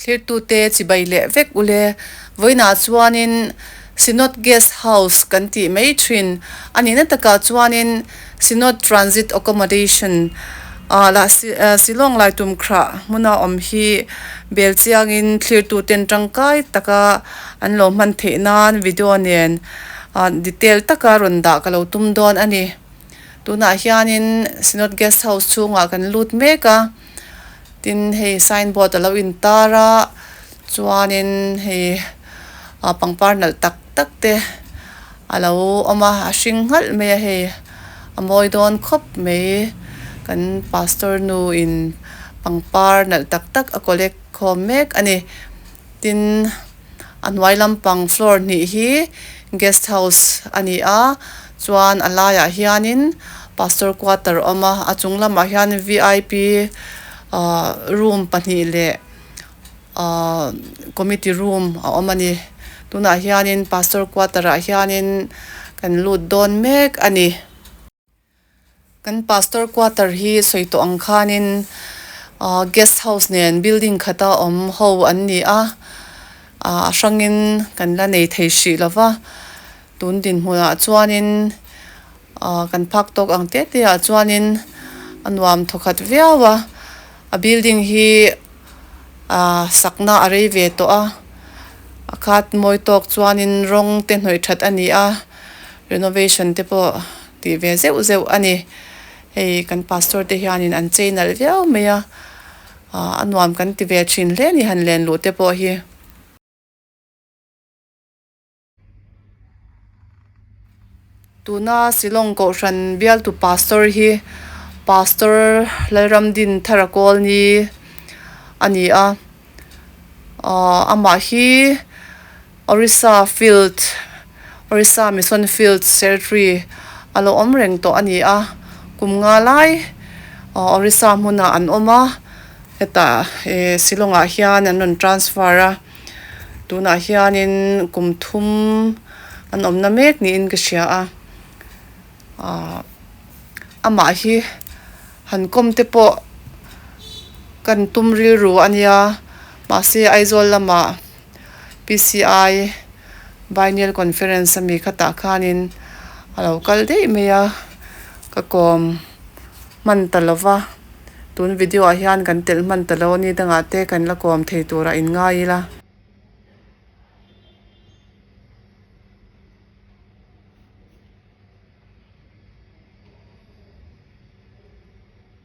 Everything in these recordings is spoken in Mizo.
Thirtute chibai leh vek ule, vawiinah chuanin Synod Guest House kan tih mai thin. A nihna takah chuanin. Sinod Transit Accommodation a lah Shillong Lai Tumkhra hmuna awm hi bel chiangin thlirtuten tangkai taka an lo hman theih nan video nen detail taka rawn dah ka lo tum dawn a ni. Tunah hianin Sinod Guest House chhungah kan lut mek a. tin hei sign board a lo in tar a chuan in hei ah pangpar nalh tak tak te a lo awm a a hring nghal mai a hei a mawi dawn khawp mai kan pastor nu in pangpar nalh tak tak a collect khawm mek a ni tin-- A hnuai lampang floor hnih hi guest house a ni a, chuan a laiah hianin pastor quarter awm a, a chung lamah hian vip ah room pahnih leh ah committee room a awm a ni. Tunah hianin pastor quarter ah hianin kan lut dawn mek a ni. Kan Pastor quarter hi sawi tawh ang khanin guest house nen building khata awm ho an ni a, a hrangin kan la nei thei hrih lo va, tun dinhmunah chuanin kan phak tawk ang teh teh ah chuanin a nuam thaw khat viau a, a building hi sakna a rei ve tawh a, a khat mawi tawk chuanin rawng te hnawih that a ni a. Renovation te pawh tih ve zeuh zeuh a ni. Hei kan pastor te hianin an chei nalh viau mai a, aah a nuam kan ti ve thin hle ni han len luh te pawh hi. Tuna Shillong Kohhran bialtu pastor hi Pastor Lalramdin Tharakawlni a ni a, aah amah hi. Orissa Field, Orissa Mission Fields Ceretry a lo awm reng tawh a ni a, kum nga lai Orissa hmuna an awm a, heta Shillongah hian an rawn transfer a, tunah hianin kum thum an awmna mek niin ka hria a, amah hi han kawm te pawh kan tum rilru a nia, mahse Aizawl lamah PCI Biennial Conference ami khatah khanin a lo kal daih mai a, ka kawm hman ta lo va, tun video ah hian kan telh hman ta lo a ni dangah te kan la kawm thei tur a inngai ila.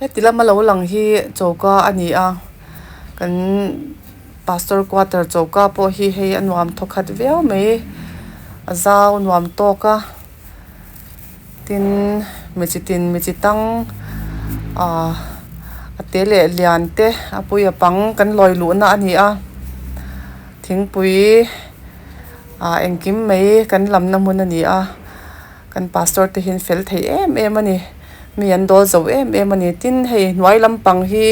Heti lama lo lang hi choka a ni a kan pastor quarter choka pawh hi hei a nuam thaw khat viau mai a zau nuam tawk a tin mi chi tin mi chi tang ah a te leh lian te apui apang kan lawi luhna a ni a thingpui ah engkim mai kan lamna hmun a ni a. Kan pastor te hian fel thei em em a ni. Mi an dawl zo em em a ni. Tin, hei hnuai lampang hi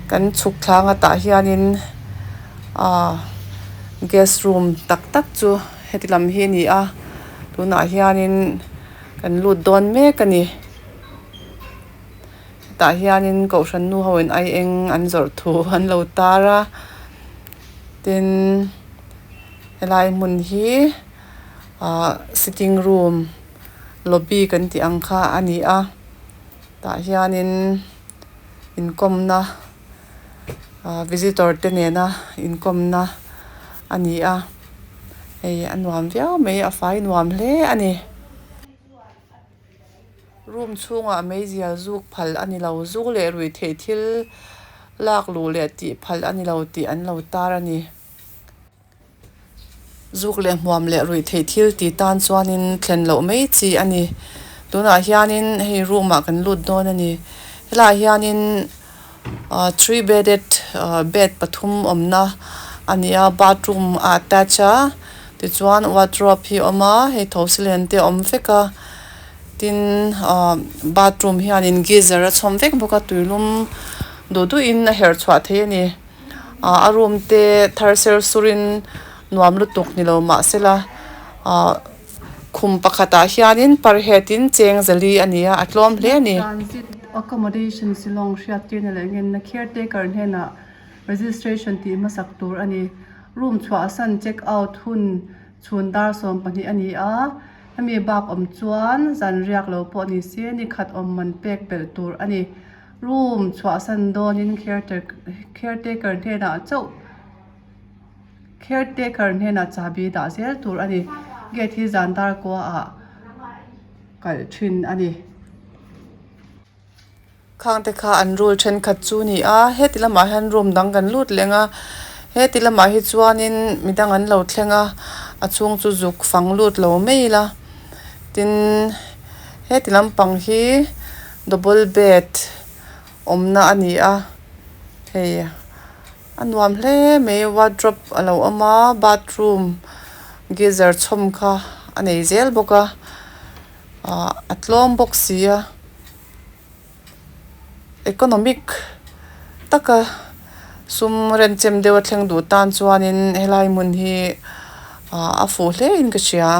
kan chhuk thlang atah hianin aaa guest room tak tak chu heti lam hi a ni a. Tunah hianin kan lut dawn mek a ni. Hetah hianin Kohhran nu hoin ai eng an zawrh thu an lo tar a. Tin, helai hmun hi. ahh sitting room lobby kan tih ang kha a ni a tah hianin inkawmna ahh visitor te nena inkawmna a ni a hei a nuam viau mai a fai nuam hle a ni room chhungah mei zia zuk phalh a ni lo zu leh rui theih thil lak luh leh tih phalh a ni lo tih an lo tar a ni. Zuk leh hmuam leh ruih theih thil ti tan chuanin thlen loh mai chi a ni. Tunah hianin hei room ah kan lut dawn a ni. Helaiah hianin ahh three bedded ahh bed pathum awmna a ni a. Bathroom a attach a, tichuan wardrobe hi a awm a, hei tho silen te a awm vek a, tin ahh bathroom hianin geyser a chhawm vek bawk a, tuilum duh duh in a herh chhuah theih a ni. Ahh a room te thar ser surin nuam lutuk ni lo mah sela ahh khum pakhat ah hianin parhet in cheng zel hi a ni a a tlawm hle a ni. Transit Accommodation Shillong hriat tirna leh ngenna caretaker hnenah registration tih hmasak tur a ni. Room chhuahsan check out hun chhun dar sawm pahnih a ni a, hemi bakawm chuan zan riak lo pawh ni se nikhat awm man pek belh tur a ni. Room chhuahsan dawnin caretaker hnenah chauh caretaker hnenah chahbi dah zel tur a ni. Gate hi zan dar kuaah kalh thin a ni. Khangte kha an rul thenkhat chu ni a, heti lamah hian room dang kan lut leng a, heti lamah hi chuanin mi dang an lo thleng a, a chhung chu zuk fang lut lo mai ila tin heti lampang hi-- Double bed awmna a ni a, hei a nuam hle mai wardrobe a lo awm a, bathroom geyser chhawm kha a nei zel bawk a, ahh a tlawm bawk si a, economic taka sum rent chem deuha thleng duh tan chuanin helai hmun hi ahh a fuh hlein ka hria.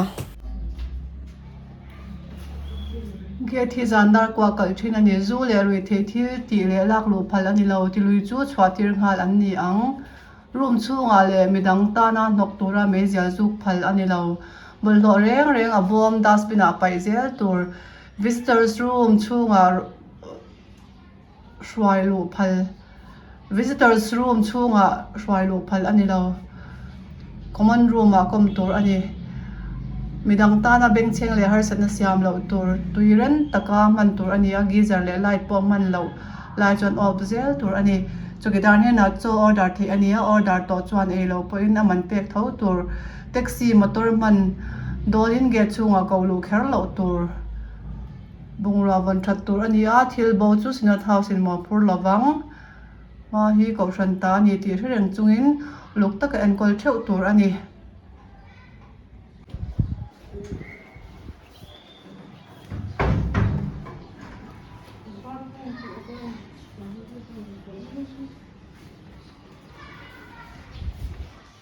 Gate hi zan dar kuah kalh thin a ni. Zu leh rui thei thil tih leh lak luh phal a ni lo. Ti lui chu chhuah tir nghal an ni ang. Room chhungah leh mi dang tana hnawk tura mei zial zuk phal a ni lo. Bawlhhlawh reng reng a bawm dustbin ah paih zel tur. Visitors room chhungah-- hruai luh phal Visitors room chhungah hruai luh phal a ni lo. Common room ah kawm tur a ni. Midang tana bengchheng leh harsatna siam loh tur tui reng taka hman tur a ni a, geyser leh light pawh hman loh lai chuan off zel tur a ni. Chawlh dan hianah chaw order theih a ni a, order tawh chuan ei lo pawhin a man pek tho tur. Taxi, motor hman dawlin gate chhungah ko luh kher loh tur. Bungrua vawn that tur a ni a, thil bo chu Senate House in maw phur lo vang, hma hi Kohhran ta a ni tih hre reng chungin luk taka enkawl theuh tur a ni.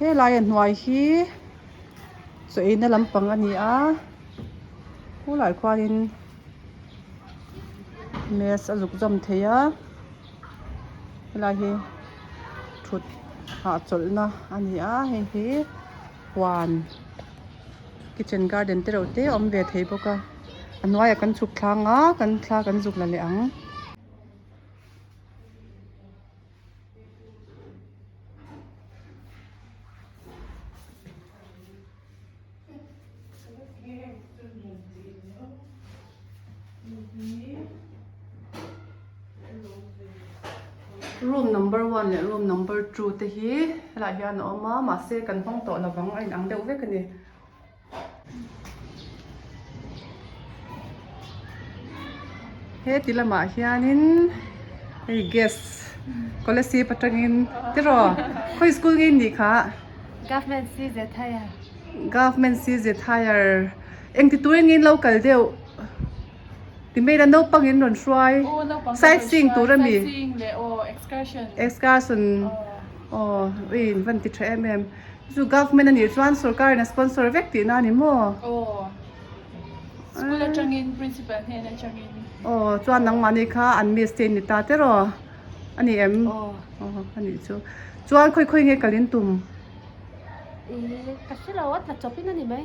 Helaia hnuai hi chawihna lampang a ni a, khulai khuanin mass a zukzawm thei a, helai hi thut nghah chawlhna a ni a, hei hi huan kitchen garden te reuh te awm ve thei bawk a, a hnuaiah kan chhuk thlanga kan thla kan zuk la leh ang. room number one leh room number two te hi helaiah hian a awm a mahse kan hmang tawh lovang a inang deuh vek a ni. heti lamah hianin hei gas collective atangin tiraw khawi school nge nih kha government cz higher government cz higher engtitur engin lo kal deuh. Ti mai ila naupang in rawn hruai side seeing tur a ni excursion aww ui in van ti tha em em chu government anih chuan sorkar in a sponsor vek tih na ani maw school atang in principal hnen atang in aww chuan nang mah ni kha an miss te in ni ta te rawh ani em aww ani chu chuan khawi khawi nge kalin tum ee ka hre lo a tla chawp in ani mai.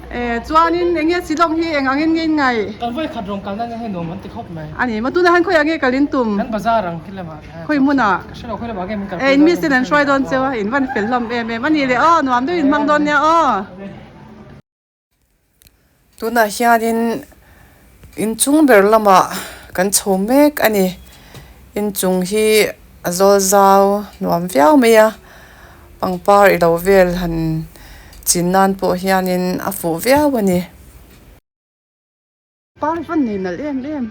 Chuanin eng nge Silawm hi eng angin nge in ngaih? Kan vawi khat rawn kalna nen hei nuam an ti khawp mai. A ni maw? Tunah hian khawi ah nge kal in tum? Kan bazar ang khi lamah kha. Khawi hmun ah? Ka hre lo, khawi lamah nge min kal pawimawh em? E, in miss ten an hruai dawn che a, in van fel hlawm em em a ni le aw, nuam deuh in hmang dawn nia aw. Tunah hianin. Inchung ber lamah kan chho mek a ni. Inchung hi a zawl zau nuam viau mai a, pangpar i lo vel han chin nan pawh hianin a fuh viau a ni. Parvan nei nalh em em.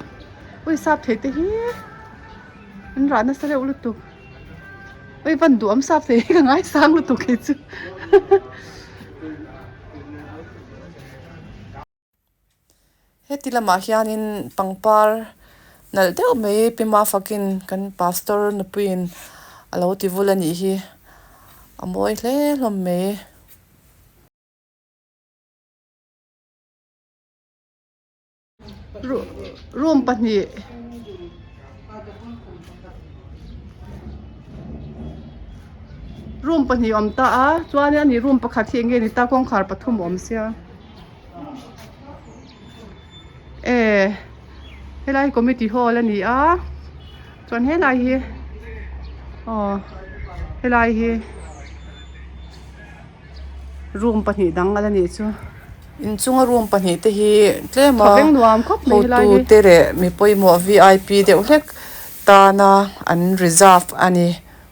Ui Sapthei te hi an rah nasa reuh lutuk. Ui Vanduam Sapthei hi ka ngai sang lutuk kei chu. Heti lamah hianin pangpar nalh deuh mai pima fakin kan pastor nupuiin a lo ti vul a nih hi a mawi hle hlawm mai. Room pahnih awm ta a, chuan room pakhat hi enge ni ta kawngkhar pathum a awm sia. ee helai hi committee hall a ni a chuan helai hi aw helai hi room pahnih dang ala nih chu inchunga room pahnih te hi tlema thleng nuam khawp mai helai hi hotu te leh mi pawimawh vip deuh hlek tana an reserve a ni.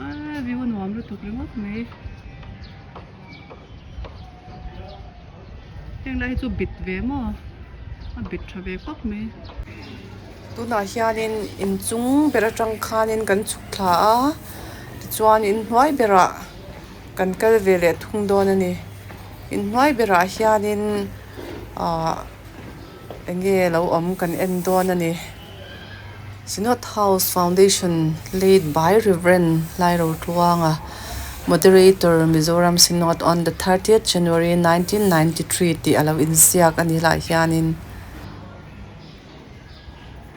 Aaa view a nuam lutuk ringawt mai. Heng lai hi chu bit ve maw? A bit tha ve khawp mai. Tunah hianin inchung ber atang khanin kan chhuk thla a, tichuan in hnuai berah kan kal ve leh thung dawn a ni. In hnuai berah hianin aah-- Enge lo awm kan en dawn a ni. Synod House Foundation led by Rev. Hlai Rotluanga, Moderator, Mizoram Synod on the thirtieth January nineteen ninety three tih a lo inziak a nih lah hianin,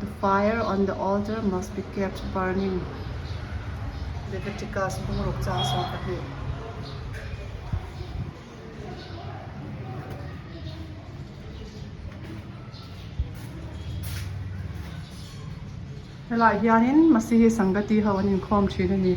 The fire on the altar must be kept burning. Leviticus bungruk changsawi pahnih. Helaiah hianin Masihi Sangati ho an inkhawm thin a ni.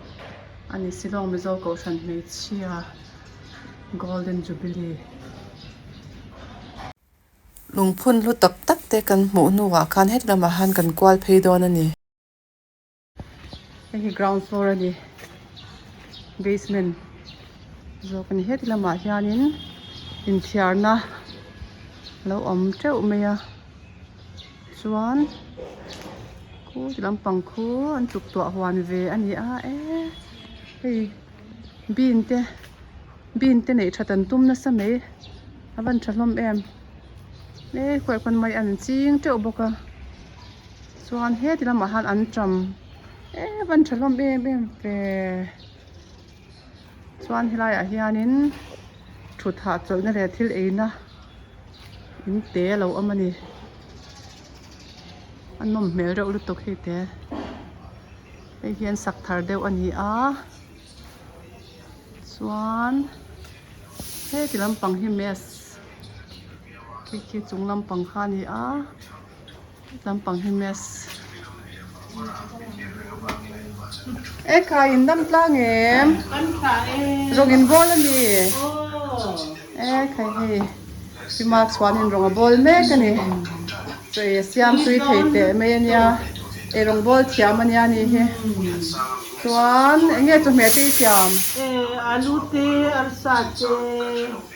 a ni Shillong Mizo Kohhran Hmeichhia Golden Jubilee. Lungphun hlu tak tak te kan hmuh hnungah khan heti lamah khan kan kual phei dawn a ni. Hei hi ground floor a ni, basement zawk a ni. Heti lamah hianin inthiarna a lo awm teuh mai a. Chuan khu ti lampang khu an tuktuah huan ve a ni a ee hei bean te bean te neih tha tan tum nasa mai a van tha hlawm em ee khuai khawn mai a ni ching teuh bawk a chuan heti lamah han an ṭam ee van tha hlawm em em ve. Chuan helai ah hianin thut hah chawlhna leh thil eina in te a lo awm a ni. A nawm hmel reuh lutuk hei te. Hei hian sak thar deuh a ni a. Chuan heti lampang hi mess khi khi chung lampang kha a ni a. Lampang hi maths. E khai in dam tlang em. Kan thla em. Rawng in bawl a ni. Oh. E khai hi. Hi marks huan in rawng a bawl mek a ni. Chaw e siam tui thei teh mai a nia. E rawng bawl thiam a nia a ni hi. Chuan enge chawhmeh te i siam? E alu te, arsa te.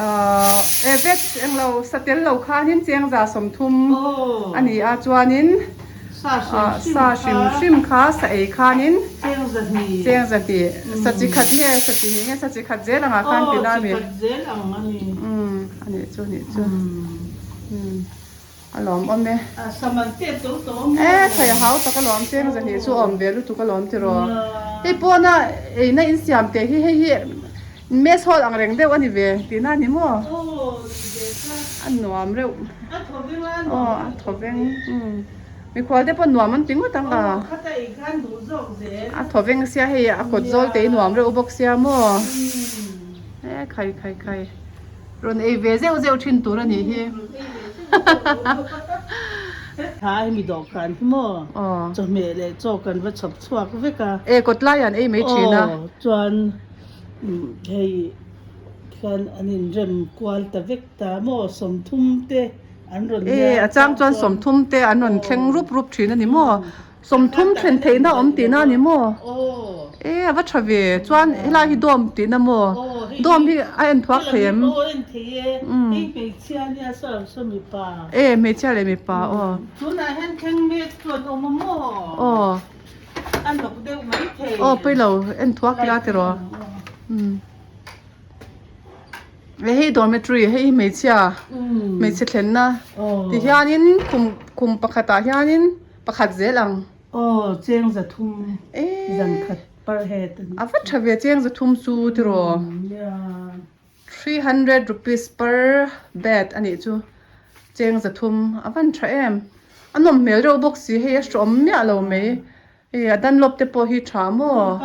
Average englo sa tel lo khanin chengza sawmthum a ni a, chuanin sa hrim hrim kha sa ei khanin chengza hnih, sa chi khat nge, sa chi hnih nge, sa chi khat zel angah khan tina a ni. Aw, chi khat zel ang a ni. Umm, a nih chu, a nih chu. A lawm awm e. A sam an pet tawh tawh awm e. E thei a hau tak a lawm cheng zahnih chu awm ve lutuk a lawm tiraw. Hei pawna eina in siam teh hi hei hi mess hall ang reng deuh a ni ve tih na ni maw? Aw ni ve kha. A nuam reuh. A thaw veng a nuam reuh. A thaw veng umm. Mikhual te pawh nuam an ti ngawt ang a. Aw khata ei khan duh zawk zel. A thaw veng sia hei a kawt zawl te hi nuam reuh bawk sia maw? Umm. E khai khai khai. Rawn ei ve zeuh zeuh thin tur a nih hi hahahaha. Tha hi mi dawhkan hi maw? Chawhmeh leh chaw kan va chhawp chhuak vek a. E, kawt laiah an ei mai thin a. Aw, chuan hei khan an inrem kual ta vek ta maw? Sawmthum te an rawn hnial. E, a chang chuan sawmthum te an rawn thleng rup rup thin a ni maw? Sawmthum thlen theihna awm tihna a ni maw? E, a va tha ve. Chuan helai hi dawm tihna maw? Dawm hi a en thuak thei em? E, hmeichhia leh mipa aw. Aw. Aw, pailo en thuak ila ti rawh. E, hei dormitory, hei hi hmeichhia, hmeichhe thlenna ti hianin khum pakhatah hianin. Pakhat zel ang. Aw cheng za thum zan khat par he ta ni. A va tha ve cheng za thum chu tiraw. Three hundred rupees per bed a nih chu cheng za thum a van tha em. A nawm hmel reuh bawk si hei a hrawm miah lo mai. Hei a dunlop te pawh hi tha maw.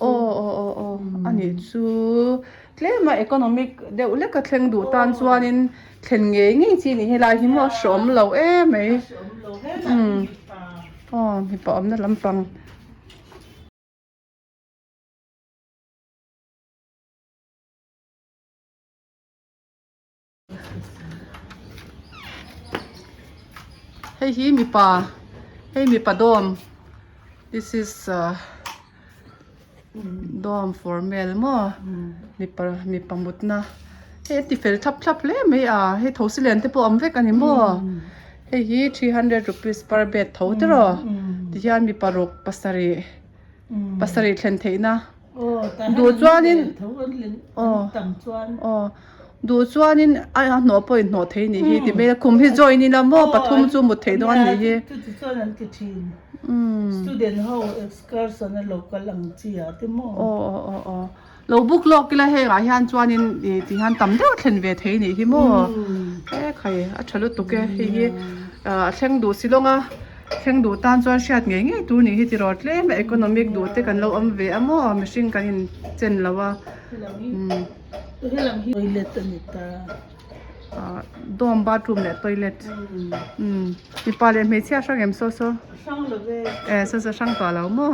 Aw aw aw a nih chu. Tlema economic deuh leka thleng duh tan chuanin thlen ngei ngei chi nih hi lai hi maw a hrawm lo e mai umm aw mipa awmna lampang. Hei hi mipa hei mipa dawm this is ah dawm for male maw mipa mipa mutna hei a ti fel thlap thlap hle mai a hei tho si len te pawh awm vek a ni maw hei hi three hundred rupees per bed tho tiraw ti hian mipa ruk pasarih. pasarih thlen theihna duh chuanin aw duh chuanin a hnawh pawhin hnawh thei anih hi ti mai a khum hi join ila maw pathum chu mut theih dawn anih hi aw aw aw aw. Lo buk lawk ila hengah hian chuanin ih tih hian tam deuh thlen ve thei nih hi maw? Ekhai a tha lutuk e, hei hi a thleng duh si lawng a, thleng duh tan chuan hriat ngei ngei tur nih hi ti rawh tlem a economic duh te kan lo awm ve a maw? Mihring kan in chen lo a toilet a ni ta, dawm bathroom leh toilet mipa leh hmeichhia hrang em saw saw? Hrang love e, saw saw hrang tawh lo maw?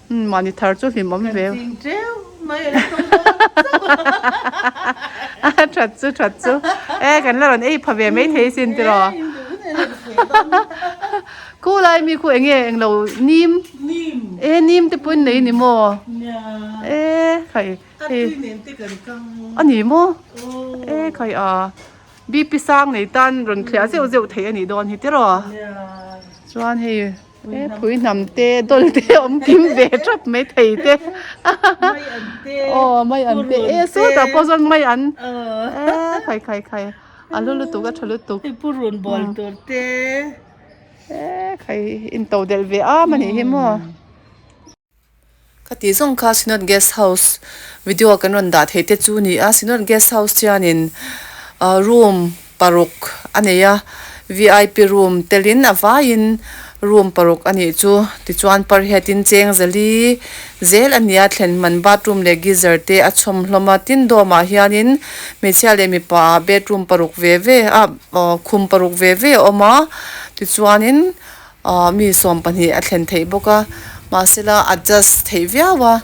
Mahni thar chu hlim awm ve. Kan ching teuh mai a la thung bawk a that chu. That chu that chu. E kan la rawn ei pha ve mai thei sin tiraw. E in duh nena ka sawi dawn a. Khu lai ami khu enge eng lo nim? Nim. E nim te pawhin nei ni maw? Nia. E khai. A tui nen te kan kang maw? A ni maw? Aw. E khai a. BP sang nei tan rawn thliah zeuh zeuh theih a nih dawn hi tiraw. Nia. Chuan hei. He phui hnam te dawl te awm kim ve tap mai thei te aw mai an te e sawt ah pawh zawn mai an khai khai khai a hlu lutuk a tha lutuk he purun bawl tur te e khai intoh delh ve a mahnih hi maw. Khati zawng kha Synod Guest House video kan rawn dah theih te chu ni a, Synod Guest House hianin room paruk a nei a, vip room telin a vaiin room paruk a nih chu. Tichuan pariatin cheng zali zel a nia, thlen man bathroom leh geyser te a chhawm hlawm a, tin dawmah hianin hmeichhia leh mipa bedroom paruk ve ve ah khum paruk ve ve a awm a, tichuanin Ahh mi sawm pahnih a thlen theih bawk a, mahsela adjust theih viau a,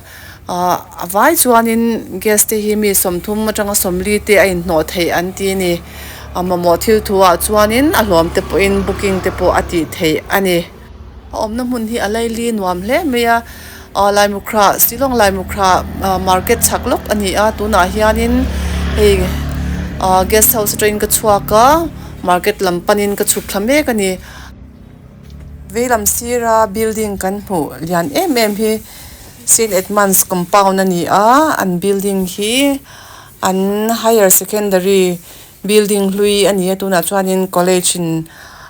ahh a vai chuanin guest te hi mi sawmthum atanga sawmli te a inhnawh theih an ti a ni. A mamawh thil thuah chuanin a hlawm te pawhin booking te pawh a tih theih a ni. A awmna hmun hi a laili nuam hle mai a, ahh Laimukhra, Shillong Laimukhra ahh market chhak lawk a ni a, tunah hianin hei ahh guest house atangin ka chhuak a, market lam panin ka chhuk thla mek a ni. veilam sira building kan hmu lian em em hi saint edmunds compound a ni a an building hi an higher secondary building hlui a ni a tunah chuanin college in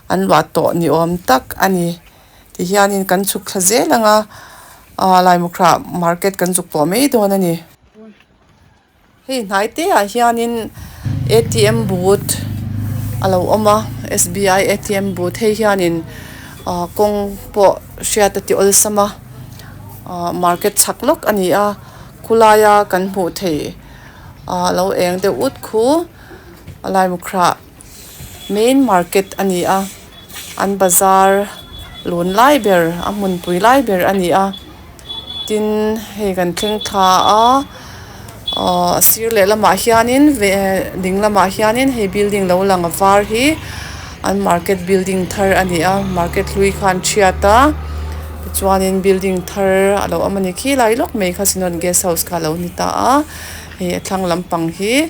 an luah tawh ni awm tak a ni ti hianin kan chhuk thla zel ang a aaa Laimukhra market kan zuk tawh mai dawn a ni. Hei hnai te ah hian in atm but a lo awm a sbi atm but hei hian in ah kawng pawh hriat a ti awlsam a ah market chak lawk a ni a khua laia kan hmuh theih ah a lo eng deuh ut khu a laibukrah-- main market a ni a an bazar lun lai ber a hmun pui lai ber a ni a tin hei kan thleng thla a ahh a sir leh lamah hianin ve ding lamah hianin hei building lo lang a var hi an market building thar a ni a market hlui kha an thiat a tichuanin building thar a lo awm a ni khilai lawk mai kha sawn guest house kha a lo ni ta a hei a thlang lampang hi--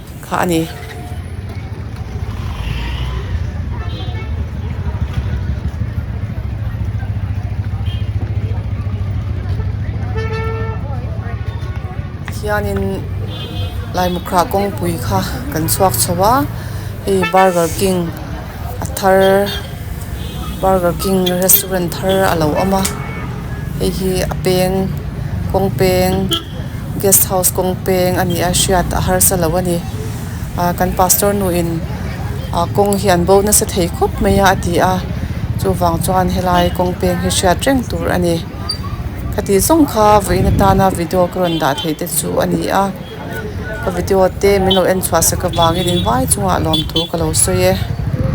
kha a ni. hianin Laimukhra kawngpui kha kan chhuak chho a hei burger king a thar burger king restaurant thar a lo awm a hei hi a peng kawng peng-- Guest house kawng peng a nih a hriat a harsa lo a ni ah kan pastor nu in ah kawng hi an bo nasa thei khawp mai a a ti a chuvang chuan helai kawng peng hi hriat reng tur a ni khatiang zawng kha vawiin atana video ka rawn dah thei te chu a ni a ka video te min lo en chhuah sak avangin in vai chungah lawmthu ka lo sawi e.